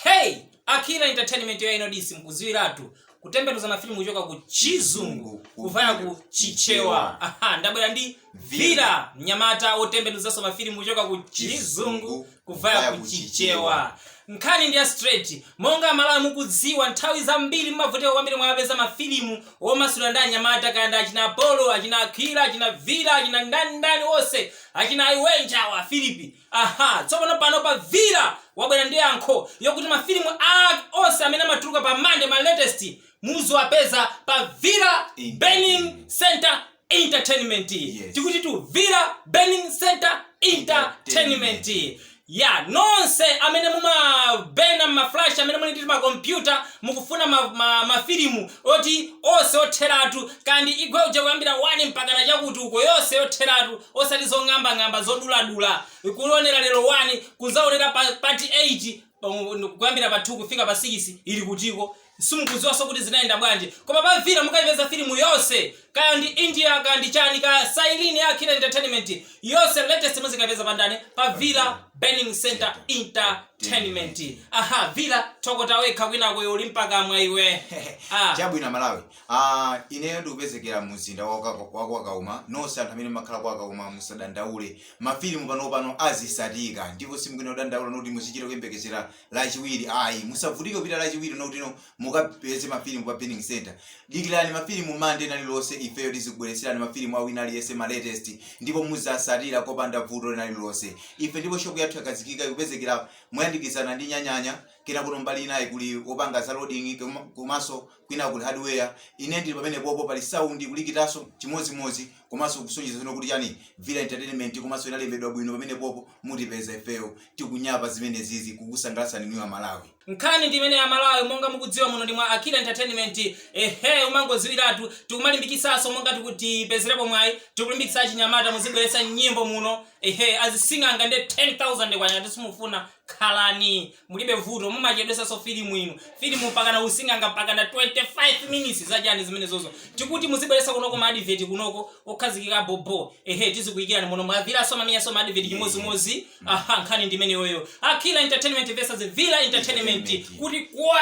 hey akila entertainment ya inodis mkuziwiratu kutembenuza mafilimu kuchoka ku chizungu kuvaya ku chichewa aha ndabwera ndi vira mnyamata wotembenuzanso mafilimu kuchoka ku chizungu kuvaya ku chichewa nkhani ndi ya straight monga amalawi mukudziwa nthawi zambiri mmavutika kwambiri mwapeza mafilimu omasulira ndi anyamata kaya ndi achina apolo achina akila achina vira achina ndani ndani onse achina iwenja wa filipi Aha, tsopano pano pa Vira wabwera ndi yankho yokuti ma film a onse amene amatuluka pa Monday ma latest muziwapeza pa Vira Burning Center Entertainment. Yes. Tikutitu Vira Burning Center Entertainment. Ya, nonse amene mumabena ma flash amene muli ndi ma computer mukufuna ma, ma, ma film oti onse otheratu kaya ndi Igwe uja kuyambira 1 mpakana chakuti uko yonse yotheratu osati zong'ambang'amba zoduladula kuonera lero 1 kuzaonera part 8 kuyambira pa 2 kufika pa 6 ili kutiko simukuziwaso kuti zinayenda bwanji koma pa vira mukaipeza filimu yonse kaya ndi india kaya ndi chani kaya sailini ya akila entertainment yonse latest muzikaipeza pa ndani pa vira burning center entertainment aha vira tokota wekha kwinako uli ndi pakamwa iwe ah. chabwino malawi Aaa ineyo ndikupezekera mu mzinda wa kwa kwa Kauma nonse anthu amene mmakhala kwa Kauma musadandaule ma film panopano azisatika ndipo simukuyenera kudandaula not kuti muzichita kuyembekezera lachiwiri ayi musavutike kupita lachiwiri not kuti mukapeze ma film pa burning centre dikirani ma film monday lina lililonse ifeyo tizikubweretserani ma film a wina aliyense ma latest ndipo muzasatira kopanda vuto lina lililonse ife ndipo shop yathu yakhazikika ikupezekera moyandikizana ndi nyanyanya kena kuno mbali inayi kuli opanga za loading koma- komanso Kwina kuli hardware, ine ndili pamenepopo pali sound kulikitaso chimodzimodzi komaso kusonyeza dzina kuti chani Vira Entertainment komaso inalembedwa bwino pamenepopo mutipeza ifeyo tikunyapa zimenezizi kukusangalatsani inuyo amalawi. Nkhani ndi imeneyi amalawi monga mukudziwa muno ndi mwa Akila Entertainment ehee umangoziwiratu tikumalimbikitsaso monga tikuti tipezerepo mwayi tikulimbikitsa achinyamata muzibweretsa nyimbo muno ehee azising'anga nde K10,000 ngati simufuna khalani mulibe vuto mumachedwesanso filimu inu filimu mpakana using'anga mpakana 25 minutes zachani zimenezozo tikuti muzibweresa kunoko maadiveti kunoko okhazikika bobo ehe tizikuyikirani muno mwa viraso amamenyaso maadiveti chimodzimodzi aha nkhani ndimeneyoyo akila entertainment versus vira entertainment kuti kwe